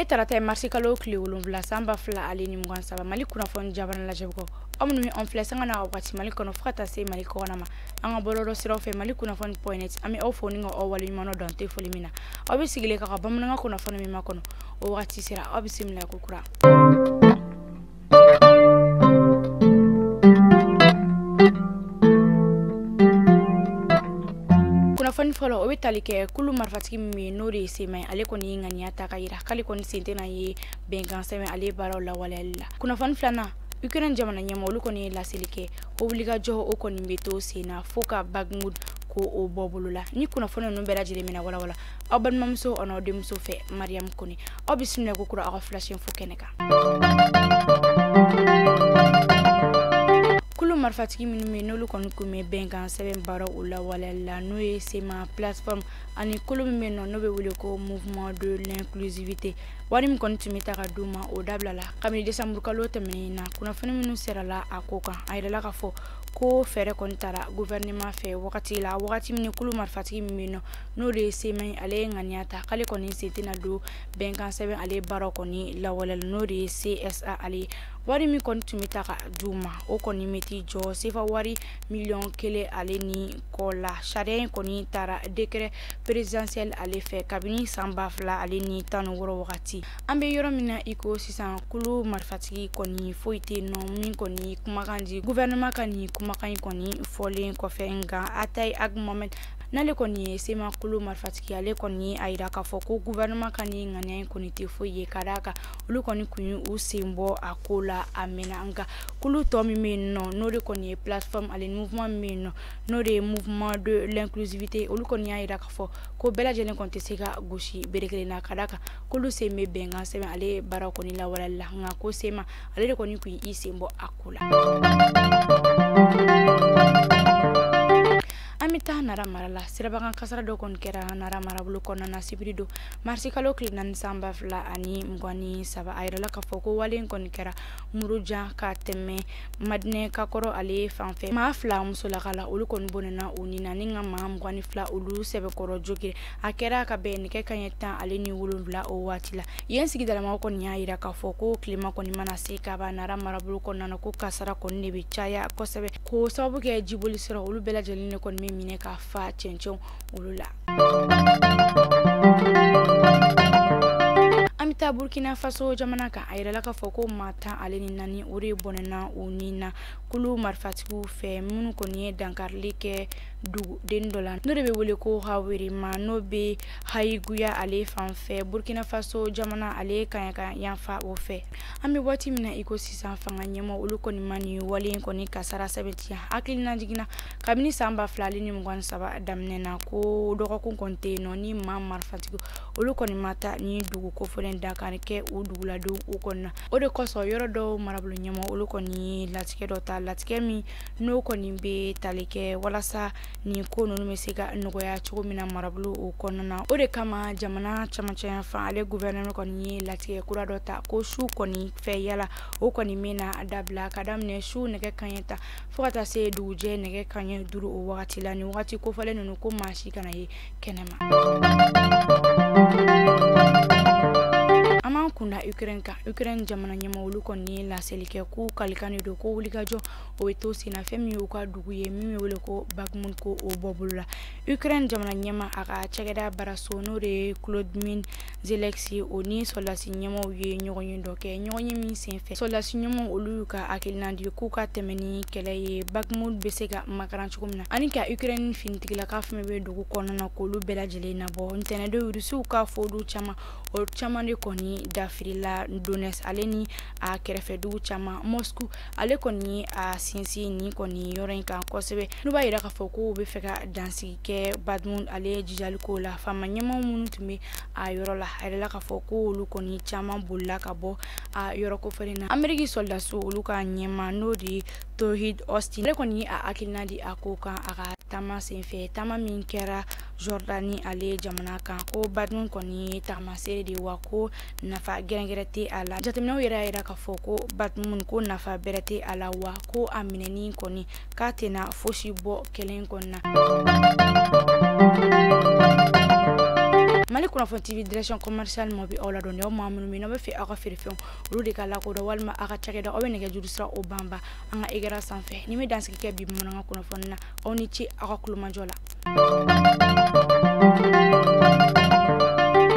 ye tarata ye marisikalo tile wolonwula san ba fila ale ni mugan saba mali kunnafoni jabarani lajɛbagaw aw minnu bɛ an filɛ sanga na wagati mali kɔnɔ fo ka taa se mali kɔkɔna ma an ka bɔlɔlɔ siraw fɛ mali kunnafoni point net an bɛ aw fo ni ka aw waleɲumandɔn dan tɛ foli min na aw bɛ sigilen k'an ka bamanankan kunnafoni min makɔnɔ o wagati sera aw bisimila ko kura kunnafoni fɔlɔ o bɛ tali kɛ kulu marifatigi min bɛ n'o de ye CMA ye ale kɔni ye ŋaniya ta k'a yira k'ale kɔni sen tɛna ye bɛnkan sɛbɛn ale baaraw lawaleyali la kunnafoni filanan ukraine jamana ɲɛmaa olu kɔni ye laseli kɛ ko wulikajɔ o kɔni bɛ to sen na fo ka Bakhmut ko o bɔ bolo la nin kunnafoni ninnu bɛɛ lajɛlen bɛna walawala aw balimamuso an'aw denmuso fɛ mariyamu kɔnɛ aw bisimila ko kura aw ka flash info kɛnɛ kan kulu marifatigi minnu bɛ n'olu kɔni tun bɛ bɛnkan sɛbɛn baaraw lawaleyali la n'o ye CMA plateforme ani kulu min bɛ yen nɔ n'o bɛ wele ko mouvement de l'inclusivité wari min kɔni tun bɛ ta ka d'u ma o dabilala kabini décembre kalo tɛmɛnen na kunnafoni minnu sɔrɔla a ko kan a yirala k'a fɔ ko fɛɛrɛ kɔni tara gouvernement fɛ wagati la wagati min kulu marifatigi min bɛ yen nɔ n'o de ye CMA ye ale ye ŋaniya ta k'ale kɔni sen tɛna don bɛnkan sɛbɛn ale baara kɔni lawaleyali n'o de ye CSA ale wari min kɔni tun bɛ ta ka di u ma o kɔni bɛ t'i jɔ sefa wari miliyɔn kelen ale ni kɔ la sariya in kɔni tara décret présidentiel ale fɛ kabini san ba fila ale ni tan ni wɔɔrɔ wagati an bɛ yɔrɔ min na i ko sisan kulu marifatigi kɔni foyi tɛ yen nɔ min kɔni kumakan di gouvernement ka nin kumakan in kɔni fɔlen kɔfɛ nka Attaye Ag Mohamed n'ale kɔni ye CMA kulu marifatigi ale kɔni ye a yira k'a fɔ ko gouvernement ka nin ŋaniya in kɔni tɛ foyi ye ka d'a kan olu kɔni tun ye u sen bɔ a ko la a mɛnna nka kulu tɔ min bɛ yen nɔ n'o de kɔni ye plateforme ale ni mouvement min bɛ yen nɔ n'o de ye mouvement de l'inclusivité olu kɔni y'a yira k'a fɔ ko bɛɛ lajɛlen kɔni tɛ se ka gosi bere kelen na ka d'a kan k'olu sen bɛ bɛnkan sɛbɛn ale baara kɔni lawaleyali la nka ko CMA ale de kɔni tun y'i sen bɔ a ko la an bɛ taa nara mara la sirabakan kasara dɔ kɔni kɛra nara marabolo kɔnɔna na sibiri don marisikalo tile naani san ba fila ani mugan ni saba a yirala k'a fɔ ko wale in kɔni kɛra murujan ka tɛmɛ madinɛ kagɔrɔ ale fan fɛ maa fila musolaka la olu kɔni bɔnɛna u ni na ni ka maa mugan ni fila olu sɛbɛkɔrɔ jogin a kɛra ka bɛn nɛgɛ kanɲɛ tan ale ni wolonwula o waati la yen sigidalamaw kɔni y'a yira k'a fɔ ko tilema kɔni mana se kaban nara marabolo kɔnɔna na ko kasara kɔni de bɛ caya kosɛbɛ k'o sababu kɛ jiboli sira olu bɛɛ lajɛlen ne kɔni bɛ minɛ ka fa cɛncɛn olu la an bɛ taa burkina faso jamana kan a yirala k'a fɔ ko maa tan ale ni naani o de bɔnɛna u ni na kulu marifatigiw fɛ minnu kɔni ye dankarili kɛ duguden dɔ la n'o de bɛ wele ko aorema n'o bɛ ouahigouya ale fan fɛ burkina faso jamana ale kaɲaka yanfan o fɛ an bɛ waati min na iko sisan fanga ɲɛmɔ olu kɔni ma nin wale in kɔni kasara sɛbɛntiya hakilina jiginna kabini san ba fila ale ni mugan ni saba daminɛ na ko dɔgɔkun kɔni tɛ yen nɔ ni maa marifatigi olu kɔni ma taa nin dugu kofɔlen dankari kɛ o duguladenw u kɔni na o de kosɔn yɔrɔ dɔw marabolo ɲɛmɔ olu kɔni latigɛ dɔ ta latigɛ min n'o kɔni bɛ tali kɛ walasa nin ko ninnu bɛ se ka nɔgɔya cogo min na marabolo o kɔnɔna na o de kama jamana camancɛ yanfan ale guvɛrɛnɛrɛ kɔni ye latigɛ kura dɔ ta ko su kɔni fɛ yaala o kɔni bɛ na dabila ka daminɛ su nɛgɛ kaɲɛ tan fo ka taa se dugujɛ nɛgɛ kaɲɛ duuru o wagati la nin wagati kofɔlen ninnu ko maa si kana ye kɛnɛma an b'an kunda ukraine kan ukraine jamana ɲɛma olu kɔni ye laseli kɛ k'u kalikani don ko wulikajɔ o bɛ to sen na fɛn min y'u ka dugu ye min bɛ wele ko Bakhmut ko o bɔ bolo la Ukraine jamana ɲɛma a ka cakɛda baaraso n'o de ye Volodymyr Zelensky o ni sɔrɔdasi ɲɛmaw ye ɲɔgɔnye dɔ kɛ ɲɔgɔnye min senfɛ sɔrɔdasi ɲɛmaw olu y'u ka hakilina di k'u ka tɛmɛ ni kɛlɛ ye Bakhmut bɛ se ka makaran cogo min na ani ka Ukraine finitigilaka fɛn min bɛ dugu kɔnɔna na k'olu bɛɛ lajɛlen nabɔ ntɛnɛndon Rusiw k'a fɔ dugu caman o caman de kɔni dafirila Donetsk ale ni a kɛrɛfɛ dugu caman Moscou ale kɔni a sinsinnen kɔni yɔrɔ in kan kosɛbɛ n'u b'a yira k'a fɔ ko u bɛ fɛ ka dansigi kɛ bakhmut ale jijali ko la faama ɲɛmɔgɔ minnu tun bɛ a yɔrɔ la a yirala k'a fɔ ko olu kɔni caman bolila ka bɔ a yɔrɔ kofɔlen na ameriki sɔrɔdaso olu ka ɲɛma n'o de ye lloyd austin ale kɔni a hakilina di a ko kan a ka taama senfɛ taama min kɛra jɔrdani ale jamana kan ko bakhmut kɔni ye tagamasere de wa ko nafa gɛrɛgɛrɛ tɛ a la jateminɛw yɛrɛ y'a yira k'a fɔ ko bakhmut ko nafa bɛrɛ tɛ a la wa ko a minɛni kɔni k'a tɛna fosi bɔ kɛlɛ in kɔni na mali kunnafoni tv direction commercial mɔ bɛ aw ladɔnniya aw maa minnu bɛ n'aw b'a fɛ aw ka feerefɛnw olu de ka lakodɔn walima aw ka cakɛda aw bɛ nɛgɛjuru sira o banba an ka ekran sanfɛ ne bɛ dansigi kɛ bi bamanankan kunnafoni na aw ni ce aw ka tulomajɔ la